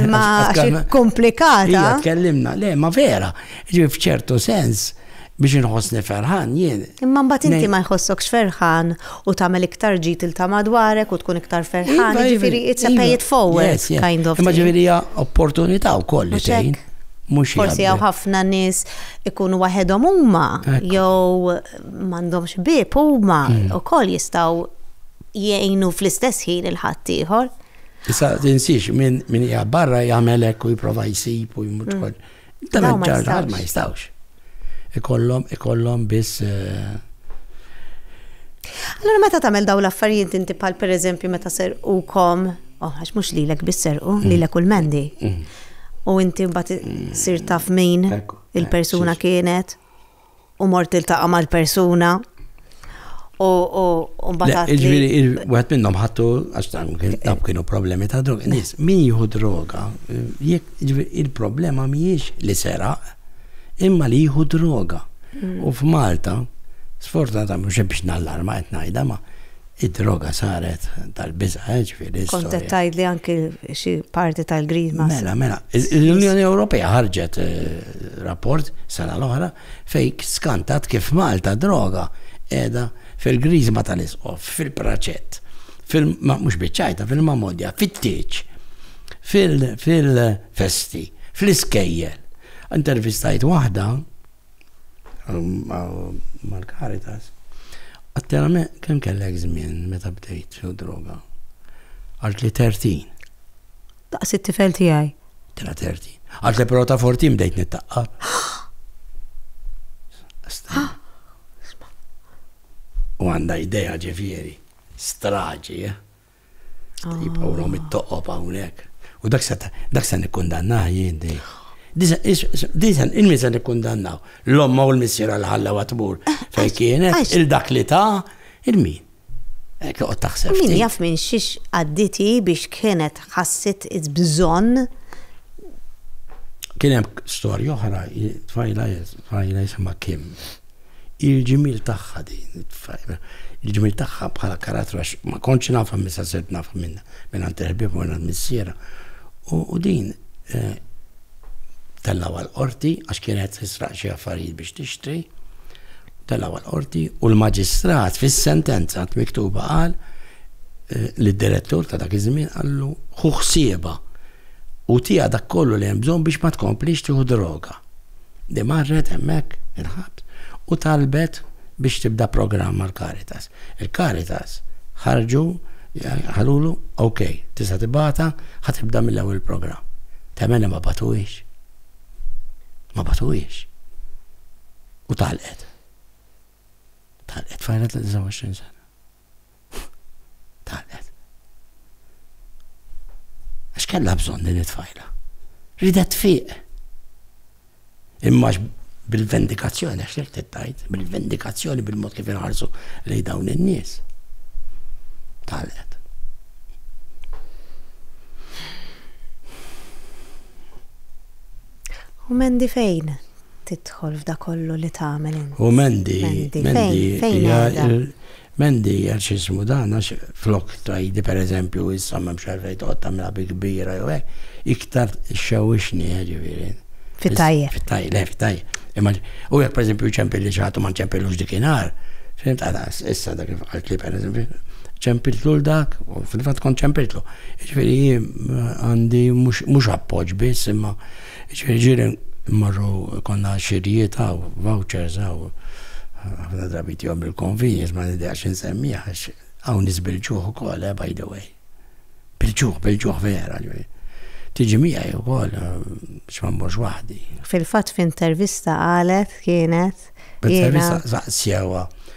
imma komplikata. Hija tkellimna, le, ma vera, ġifi f'ċertu sens biex inħossni ferħan jien. Imma mbagħad inti ma jħossokx ferħan u tagħmel iktar ġid il ta' madwarek u tkun iktar ferħan, iva, ġifieri it's a iva. pay it forward kind of. Imma ġifieri hija opportunità wkoll li tgħin. Forsi għaw ħafna nis ikunu waħedhom huma jew m'għandhomx bib huma mm. ukoll jistgħu jgħinu fl-istess ħin il-ħaddieħor. Issa tinsiex min hija barra jagħmelek u jipprova jsib u jmut mm. Dawn ma jistgħux. Ma jistgħux. Ikollhom ikollhom biss eh, Allora meta tagħmel daw l-affarijiet inti bħal pereżempju meta serqukom, oh għax mhux lilek biss serqu, mm. lilek u l-mendi. Mm. U inti mbagħad sir taf min il-persuna kienet. u mort iltaqa' mal-persuna u mbagħad. Ġifieri wieħed minnhom ħattu għax dan kienu problemi ta' droga. Nies min jieħu droga, il-problema mhijiex li seraq, imma li jieħu droga. Mm. U f'Malta, sfortunatament mhux biex nallarma qed ngħidha ma' Id-droga saret tal-biża', ġifieri. Kont qed tgħidli anki xi parti tal-grima. Mela, mela. L-Unjoni Ewropea ħarġet rapport sena l-oħra fejn skantat kif Malta droga qiegħda fil-griżma tal-Isqof, fil-Praċett, mhux biċ-Ċajta, fil-Mamodja, fit-Tieġ, fil-festi, fl-iskejjel. Intervistajt waħda mal-Caritas, għattela me kem kellek żmien meta bdejt xew droga? Għalt li 30. Daqs it-tifel tiegħi. Tela 30. Għalt li però ta' 14 bdejt nittaqqa. U għanda idea ġifieri, straġi, eh? Jibqgħu rom it-toqob hawnhekk. U dak se dak se nikkundannah jien din. Diżen, il-min se nikkundannaw. L-omma u l-missiera li ħallew għatmur fejn kienet, il-dak li ta' il-min. Ekk joqgħod taħseb. Min jaf minn xiex għadditi biex kienet ħassit bżonn. Kien hemm storja oħra, tfajla tfajla jisimha Kim. Il-ġimiel tagħha din, il-ġimiel tagħha bħala karattru għax ma kontx nafha misa sirt nafha minn minn għand il-ħbieb u minn missiera. U din eh, tellaw għal-qorti għax kienet tisraq xi affarijiet biex tixtri. Tellaw għal-qorti u l-maġistrat fis-sentenza miktuba qal eh, li d-direttur ta' dak iż-żmien qallu ħuħsieba u tija dak kollu li hemm bżonn biex ma tkomplix tieħu droga. li marret hemmhekk il-ħabs u talbet biex tibda programm mal-Caritas. Il-Caritas ħarġu qalulu, ok, tista' tibgħatha, ħa tibda mill-ewwel il-programm. Temmen ma batuhiex. Ma batuhiex. U talqet. Talqet fajra ta' 29 sena. Talqet. Għax kellha bżonn din it-tfajla. Ridet fiq. Imma bil-vendikazzjoni, għax li t-tajt, bil-vendikazzjoni bil-mod kif inħarsu li dawn in-nies. Talqet. U mendi fejn tidħol f'da kollu li tagħmel inti. U mendi, mendi, fejn M'għandi għal x'ismu dan għax flok tgħidi pereżempju issa m'hemmx għalfejn toqgħod tagħmilha bi kbira jew hekk, iktar xxewwixni jiġifieri. Fit-tajjeb. Fit-tajjeb, le fit-tajjeb. Imma u jekk pereżempju ċempilli xi ħadd u ma nċempillux dik inhar, fimt għalas issa dak kif qalt li pereżempju ċempiltlu l dak u fil-fatt kont ċempiltlu. Jiġifieri jien għandi mhux appoġġ biss imma Jiġifieri mmorru jkollna xirijiet hawn, vouchers hawn, ħafna drabi tihom il-convenience ma nideqx insemmiha għax hawn niżbilġuh ukoll eh by the way. Bilġuh, bilġuh vera. Tiġi miegħi wkoll biex ma mmorx waħdi. Fil-fatt f'intervista qalet kienet. B'intervista saqsewha.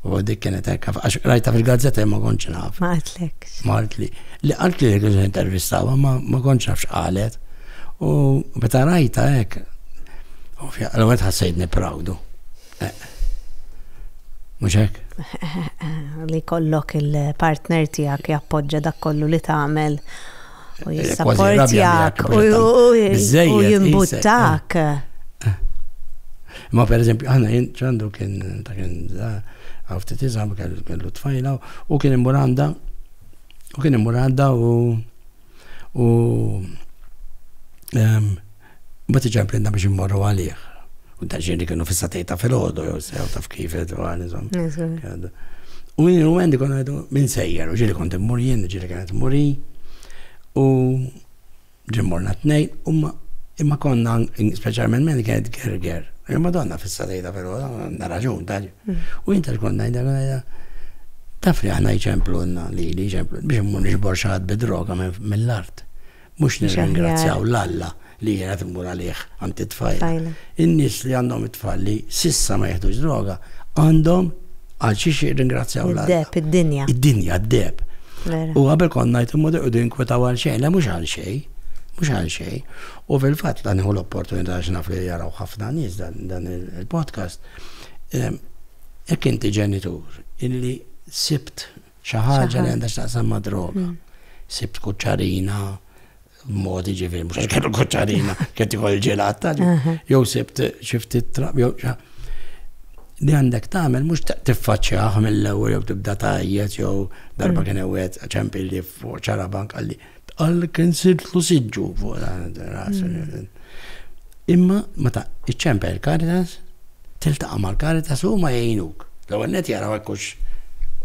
U dik kienet hekk, għax rajta fil-gazzetta ma kontx naf. Ma għatlek. Ma għatli. Li għatli li kienet intervistawa ma kontx naf x'qalet. U meta rajta hekk, l-għed ħassejtni proudu. Eh. Mhux hekk? Li kollok il-partner tiegħek jappoġġa dak kollu li tagħmel u jissapportjak u jimbuttak. Ma per eżempju, għana jien ċandu kien ta' kien għafti tizam kellu tfajla u kien imuranda u kien imuranda u u Mbagħad iġa implinna biex immorru għalih. U dan ġeni kienu fissa tejta fil-ħodu, jew sew taf kif għal, insomma. U minn il għendi konna għedu minn sejjer, u ġili kont immur jien, ġili kienet muri. U ġimmorna t-nej, imma konna, specialment minn kienet gerger. U madonna fissa tejta fil-ħodu, għanna raġun, tal. Mm. U jinta ġkonna għedha, għedha, taf li għahna jċemplu għanna li li jċemplu, biex immur nġbor xaħat bidroga mill-art. Mhux nirringrazzjaw 'l Alla li jiena qed immur għalih għand it-tfajla. In-nies li għandhom it-tfal li s'issa ma jieħdux droga għandhom għal xiex jirringrazzjaw 'l Alla. Id-deheb, id-dinja. Id-dinja, d-deheb. Vera. U qabel kont ngħid imma joqogħdu jinkwetaw għal xejn, le mhux għal xejn. Mhux għal xejn. U fil-fatt dan hu l-opportunità għax naf li jaraw ħafna nies dan il-podcast. Jekk inti ġenitur illi sibt Xi ħaġa li għandha x'taqsam ma' droga. Hmm. Sibt kuċċarina modi ġifieri mhux kellu kuċċarina, kien tieħu l-ġelat tal jew sibt xi ftit trab jew li għandek tagħmel mhux tiffaċċjah mill-ewwel jew tibda tajjet jew darba hmm. kien ewwed ċempilli fuq ċarabank qalli Tqal kien sirtlu siġġu fuq ras. Imma meta iċċempel il-Caritas, tiltaqa' mal-Caritas u ma jgħinuk. L-ewwel net jaraw hekk hux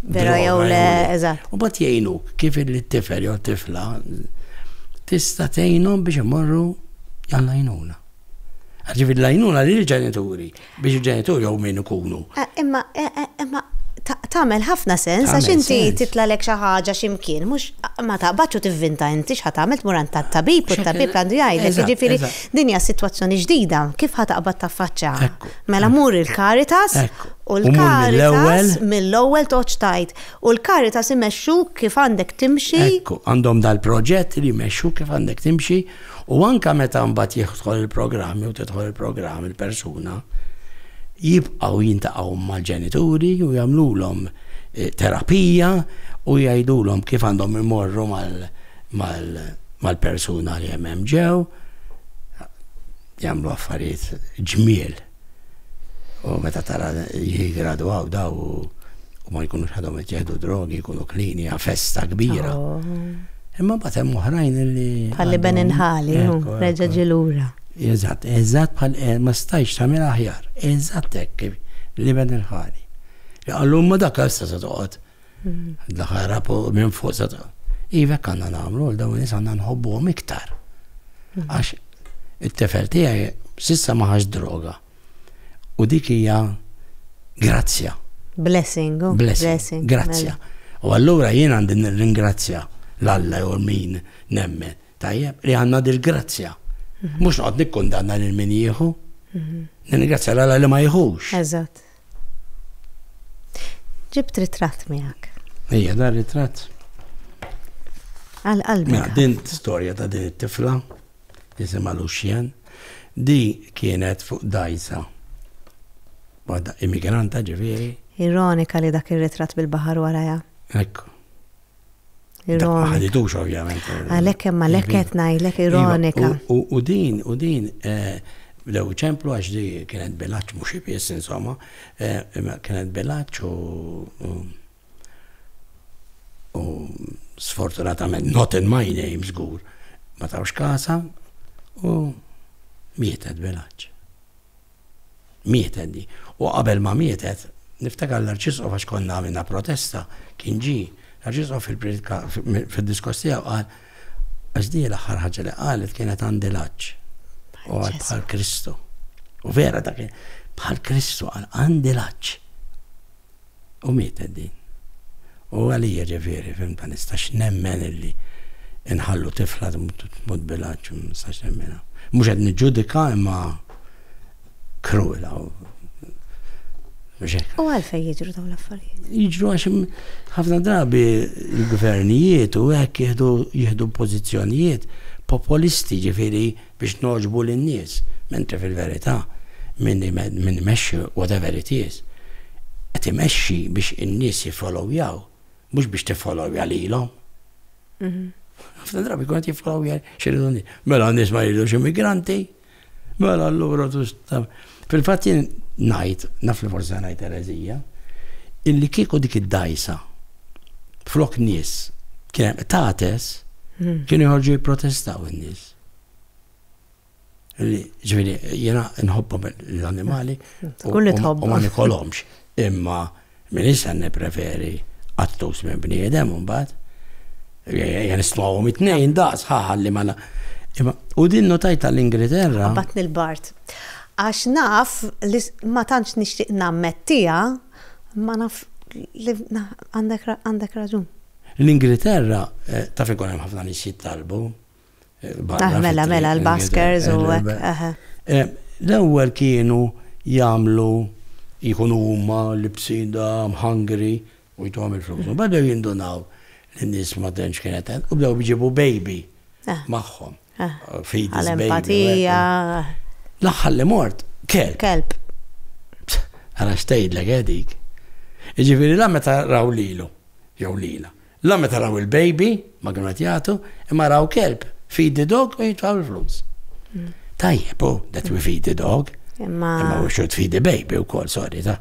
Vera jew le, eżatt. U bat jgħinuk kif il-tifel jew tifla tista' tgħinhom biex imorru għall-għajnuna. Ġifieri l-għajnuna li l-ġenituri Biex il-ġenituri jew min ikunu. Imma imma tagħmel ħafna sens għax inti titlalek xi ħaġa xi mkien, mhux ma taqbadx u tivvinta inti x'ħa tagħmel tmur għand tat-tabib u t-tabib għandu jgħidlek, jiġifieri din hija sitwazzjoni ġdida, kif ħa taqbad taffaċċjaha? Mela mur il-Caritas u l-Caritas mill-ewwel toġġ tgħid u l-Caritas imexxuk kif għandek timxi. Ekku, għandhom dal-proġett li jmexxuk kif għandek timxi. U anke meta mbagħad jidħol il-programm jew tidħol il-programm il-persuna, jibqgħu jintaqgħu mal-ġenituri u jagħmlulhom eh, terapija u jgħidulhom kif għandhom imorru mal-persuna li hemm ġew jagħmlu affarijiet ġmiel. U meta tara jigradwaw daw u ma jkunux għadhom ittieħdu drogi, jkunu klini, festa kbira. Imma mbagħad hemm oħrajn li. Bħalli ben inħali, reġa' ġilura. Eżatt, eżatt bħal eh, ma stajx tagħmel aħjar. Eżatt hekk li ben inħali. Għallum ma dak għal se toqgħod Daħħal rapu minn fuq sa ta' Ivek għanna namlu, l-dawn nis għanna nħobbu għom iktar. Mhm. Għax, il-tefel tijaj sissa maħax droga. U dik hija grazzja. Blessing. Oh, blessing. Grazzja. Mela. U allura jien għandi ringrazzja l-Alla jew min nemmen. Tajjeb, li għanna dil-grazzja. Mhm. Mux noqgħod nikkundanna lil min jieħu. Mhm. Ringrazzja l-Alla li ma jieħux. Eżatt. Ġibt ritratt miegħek. Ejja, dar ritratt. Għal qalbi. Mela, din storja ta' din it-tifla, jisimha Luxien, di kienet fuq dajsa. Waħda immigranta ġifieri. Ironika li dak ir-ritratt bil-baħar waraja. Ekku. Ironika. Ħadidux ovvjament. Għalhekk hemm għalhekk qed ngħidlek iva, ironika. U din u din eh, lew ċemplu għax di kienet bilaċ mhux ibiss insomma, eh, kienet bilaċ u u sfortunatament not in my name żgur ma tawx kasa u mietet bilaċ. Mietet di. U qabel ma mietet, niftakar l-Arċisqof għax konna għamilna protesta, kien ġie, l-Arċisqof fil-priedka fid-diskors tiegħu qal għax di l-aħħar ħaġa li qalet kienet għandi l-għaġġ. U għal bħal Kristu. U vera dak bħal Kristu għal għandi l-għaġġ. U mietet din. U għalija ġifieri, fim, ma nistax nemmen illi inħallu tifla tmut bilaċ, ma nistax nemmenha. Mhux qed niġġudika imma krula u U għalfej jiġru dawn l-affarijiet? Jiġru għax ħafna drabi l-gvernijiet u hekk jieħdu pożizzjonijiet populisti ġifieri biex nogħġbu lin-nies, mentri fil-verità min imexxi whatever it is qed imexxi biex in-nies jiffolowjaw mhux biex tiffolowja lilhom. Ħafna drabi jkun qed jiffolowja x'iridu n-nies. Mela n-nies ma jridux immigranti, mela allura Fil-fatt jien ngħid, naf li forsi ngħid ereżija, illi kieku dik id-dgħajsa flok nies kien hemm qtates, kienu jħorġu jipprotestaw in-nies. Li ġviri, jena nħobbom l-animali. Kulli tħobb. U ma nikolomx. Imma minn issa nipreferi għattus minn bniedem un bat. Jena stmawom it-nejn daqs ħalli ma. U din notajta l-Ingilterra. Bat nil-bart. Għax naf li ma tantx nixtieq nammettija, ma naf li għandek raġun. L-Ingilterra eh, taf ikun hemm ħafna nies jittalbu. Mela, mela, l-baskers u L-ewwel kienu jagħmlu jkunu huma libsida mħangri u jtuhom il-flus. Bada jindunaw li n-nies ma tantx kienet u bdew biġibu baby magħhom. Fidi l-empatija. L-aħħar li mort kelb. Kelb. Għala xtejdlek edik. Iġifieri la meta raw lilu jew lila. La meta raw il-baby, ma kienu qed jagħtu, imma raw kelb, feed the dog u jitfgħu l-flus. Mm. Tajjeb, oh, that we feed the dog. Imma. Imma we should feed the baby u kol, sorry, ta.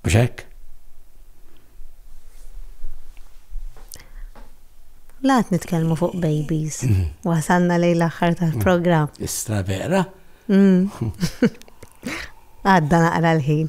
Uxek? Laħt nitkelmu fuq babies. Mhm. Wasanna lej l-axħar tal-program. Mhm. Istra vera. Mhm. Għadda naqra l-ħin.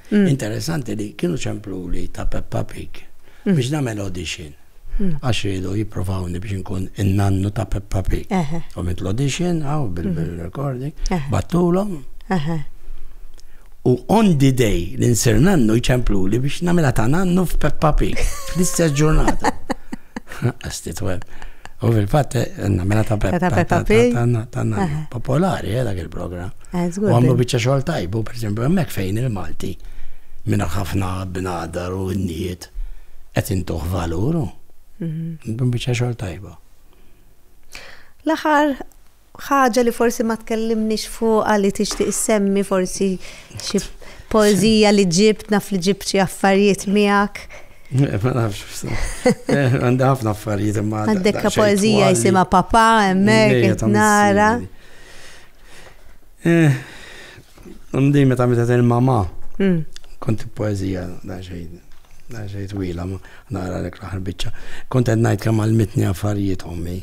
Interessanti li kienu ċempluli ta' Peppa Pig biex nagħmel audition. Għax rridu jipprovawni biex nkun in-nannu ta' Peppa Pig. U mit l-audition, għaw bil-recording, battulhom. U on the day li nsir nannu jċempluli biex nagħmilha ta' nannu f'Peppa Pig. Fl-istess ġurnata. Għasti tweb. U fil-fatt, nagħmilha ta' Peppa Pig. Ta' nannu. Popolari, eh, dak il-programm. Eh, u għamlu bieċa xogħol tajbu, per esempio, hemmhekk fejn il-Malti minn ħafna bnadar u n-niet qed intuħ valuru. Mhm. Bieċa xogħol tajbu. L-aħħar ħaġa li forsi ma tkellimniex fuq li tixtieq semmi forsi xi poezija li ġibt naf li ġibt xi affarijiet miegħek. Eh, ma nafx, eh, għandha ħafna affarijiet imma. Għandek poezija jisima papa, emmek, nara. Eh, għandi meta meta il-mama, hmm. kont poezija da xejn, da xejn twila, nara l aħħar bicċa. Kont għed najt kemm għal-mitni affarijiet ommi.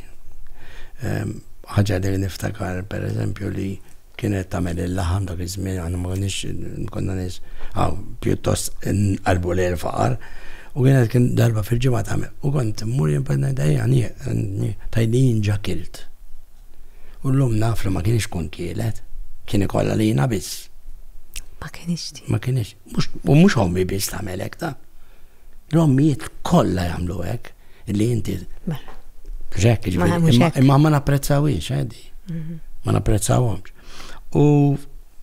Ehm, ħaġa li niftakar, per eżempju, li kienet tamel il-laħam dak iż-żmien għanna ma konniex konna nies għaw pjuttost qalbu li l-faqar u kienet kien darba fil-ġimgħa tagħmel u kont mmur jien per ngħidha hija tajdin ġakilt. U llum naf li ma kienx ikun tielet, kien ikollha lina biss. Ma kienx tielet. Ma kienx. U mhux ommi biss tagħmel hekk ta. L-ommijiet kollha jagħmlu hekk li inti. Mela. Ġek, imma ma napprezzawiex, għedi. Eh, mhm. Ma napprezzawhomx. U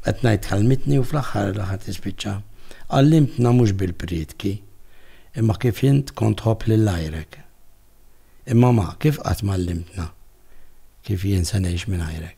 qed ngħid kalmitni u fl-aħħar l-aħħar tispiċċa. Għallimtna mhux bil-prietki, imma kif int kont ħobb lil lajrek. Imma ma, kif qatt m'għallimtna kif jien se ngħix mingħajrek?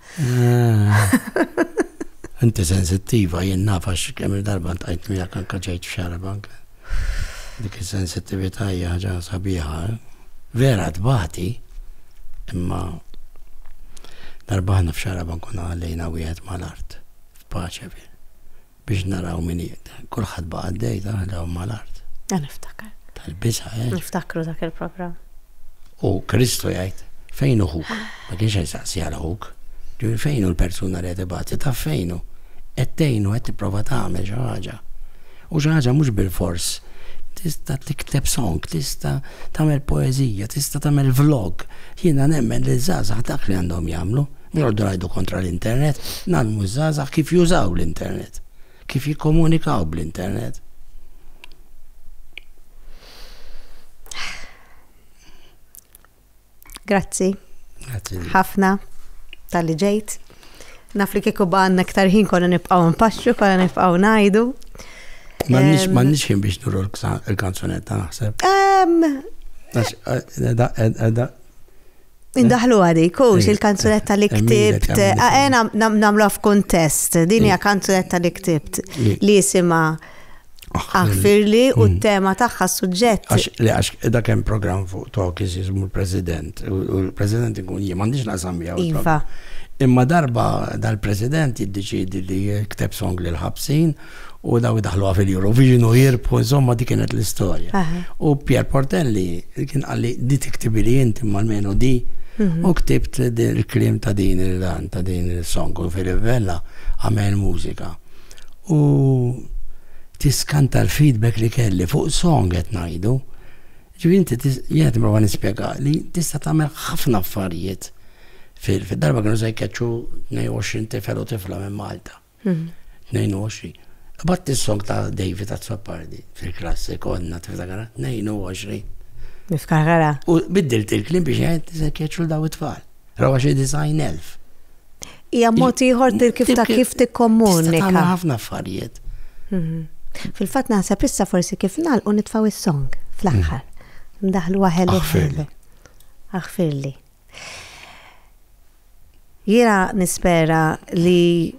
Inti sensittiva, jien nafa x'kemm il-darba ntajt miegħek anka ġejt f'xara bank. Dik is-sensittività hija ħaġa sabiħa. Eh? Vera tbati, imma darba ħna f'xara bank kuna għallejna wieħed mal-art, f'paċe fih. Biex naraw min jiqda. Kulħadd baqa' għaddej tagħna lehom mal-art. Ah, niftakar. Tal-biża', eh? Niftakru dak il-programm. U Kristu jgħid, Fejn hu ħuk? Ma kienx qed isaqsi għal ħuk. Ġifieri fejn hu l-persuna li qed ibati? Taf fejn hu? Qed tgħinu, qed tipprova tagħmel xi ħaġa. U xi ħaġa mhux bilfors. Tista' tikteb song, tista' tagħmel poeżija, tista' tagħmel vlog. Jiena nemmen li ż-żgħażagħ dak li għandhom jagħmlu. Noqogħdu ngħidu kontra l-internet, nagħlmu ż-żgħażagħ kif jużaw l-internet, kif jikkomunikaw bl-internet. Grazzi. Grazzi. Ħafna tal-li ġejt. Naf li kieku baqanna ktar ħin konna nibqaw npaxxu, konna nibqaw najdu. Mannix ħin biex nuru l-kanzunetta naħseb. Eh, eh, eh, Indaħlu għadi, kux il-kanzunetta li ktibt, għena namlu għaf kontest, din hija kanzunetta li ktibt li jisima aħfirli u mm. t-tema taħħa suġġett. Li għax da kem program fuq tok jizmu l-president, u l-president ikun jie, mandiġ nasam jaw. Iva. Imma darba dal-president jiddeċidi li kteb song l-ħabsin, u daw idaħluha fil-Eurovision u jirbħu, insomma di kienet l-istorja. U Pier Portelli kien għalli di tiktibili inti mal-menu di mhm. u ktibt il-krim ta' din il-dan ta' din il-song u fil-vella għamel mużika. U tiskanta l-feedback li kelli fuq song qed ngħidu. Ġifieri inti jgħid ma nispjega li tista' tagħmel ħafna affarijiet fil-darba kienu se jkeċċu 22 tifel u tifla minn Malta. 22. Ibat is-song ta' David Azzopardi fil-klassi konna tiftakara 22. Niftakara. U biddilt il-klim biex jgħid se keċu daw it-tfal. Rawa xi design elf. Hija mod ieħor kif ta' kif tikkommunika. Tagħmel ħafna affarijiet. Mhm. Fil-fatt naħseb issa forsi kif nagħlqu nitfgħu is-song fl-aħħar. Ndaħlu waħel. Aħfirli. Aħfirli. Jiena nispera li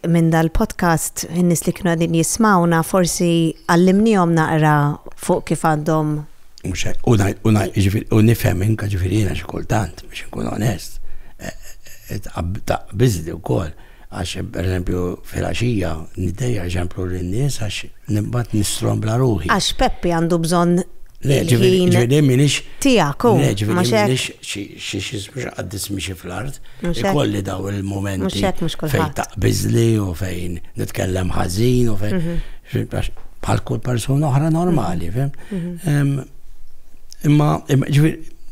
minn dal-podcast in-nies li kienu għadin jismawna forsi għallimnihom naqra fuq kif għandhom U nifhem inka ġifieri jiena xi kultant biex inkun onest. Eh, eh, Taqbiżli wkoll. Għax, pereżempju, filgħaxija niddejjaq eżempju lin-nies għax nibgħat nistrombla ruħi. Għax Peppi għandu bżonn il-ħin tiegħek hu. Le, ġifieri m'iniex xi x'ismu qaddis mixi fl-art. Ikolli dawn il-mumenti fejn taqbiżli u fejn nitkellem ħażin u fejn bħal kull persuna oħra normali, fihm? Imma, ġifieri,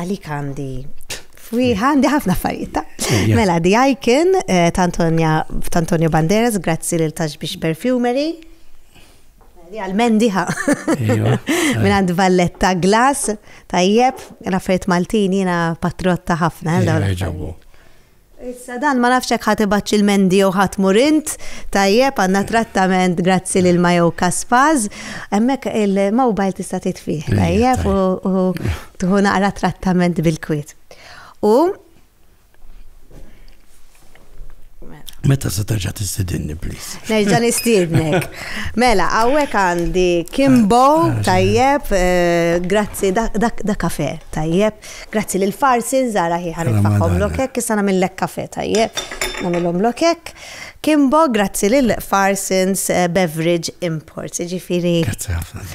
Għalik għandi Fwieħa, għandi ħafna affarijiet ta'. Mela, The Icon eh, ta' Antonio Banderas, grazzi lil Tax biex Perfumery. Li għal-mendiħa. Minn għand Valletta Glass, tajjeb, l-affarijiet Maltin jina patrotta ħafna. Eh, Issa dan ma nafx hekk ħa tibgħatx il-Mendi jew ħa tmur int, tajjeb għandna trattament grazzi lil Majo Kaspaz, hemmhekk il-mobile tista' titfih, tajjeb u tħu naqra trattament bil-kwiet. U Meta se terġa' tistidinni, please. Nerġa' nistidnek. Mela, hawnhekk għandi Kimbo, ah, ah, tajjeb, eh, grazzi, da kafe, tajjeb. Grazzi lil Farsi, nżara hi ħa nitfagħhom lokek, issa nagħmillek kafe tajjeb. Nagħmilhom lokek. Kimbo, grazzi lil Farsins eh, Beverage Imports, ġifieri. Grazzi ħafna.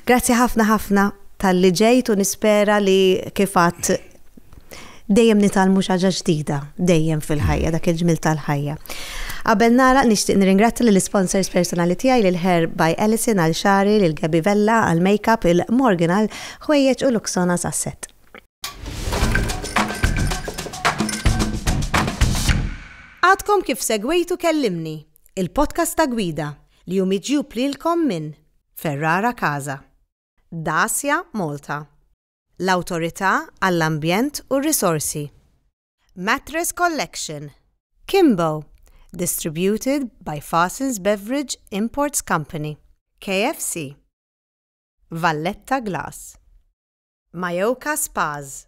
Grazzi ħafna ħafna tal-li ġejt u nispera li kifat Dejjem nitgħallmu xi ħaġa ġdida, dejjem fil-ħajja, dak il-ġmiel tal-ħajja. Qabel nagħlaq nixtieq nirringrazzja lill-isponsors personali tiegħi lil Hair by Alison għal xagħri, lil Gabby Vella għall-makeup, il Morgan għal ħwejjeġ u Luxonas għas-sett. Għadkom kif segwejtu Kellimni, il-podcast ta' gwida li hu miġjub lilkom minn Ferrara Casa, Dacia Malta, l-Awtorità għall-Ambjent u r-Risorsi. Mattress Collection, Kimbo, distributed by Fasens Beverage Imports Company, KFC. Valletta Glass. Mayoka Spas.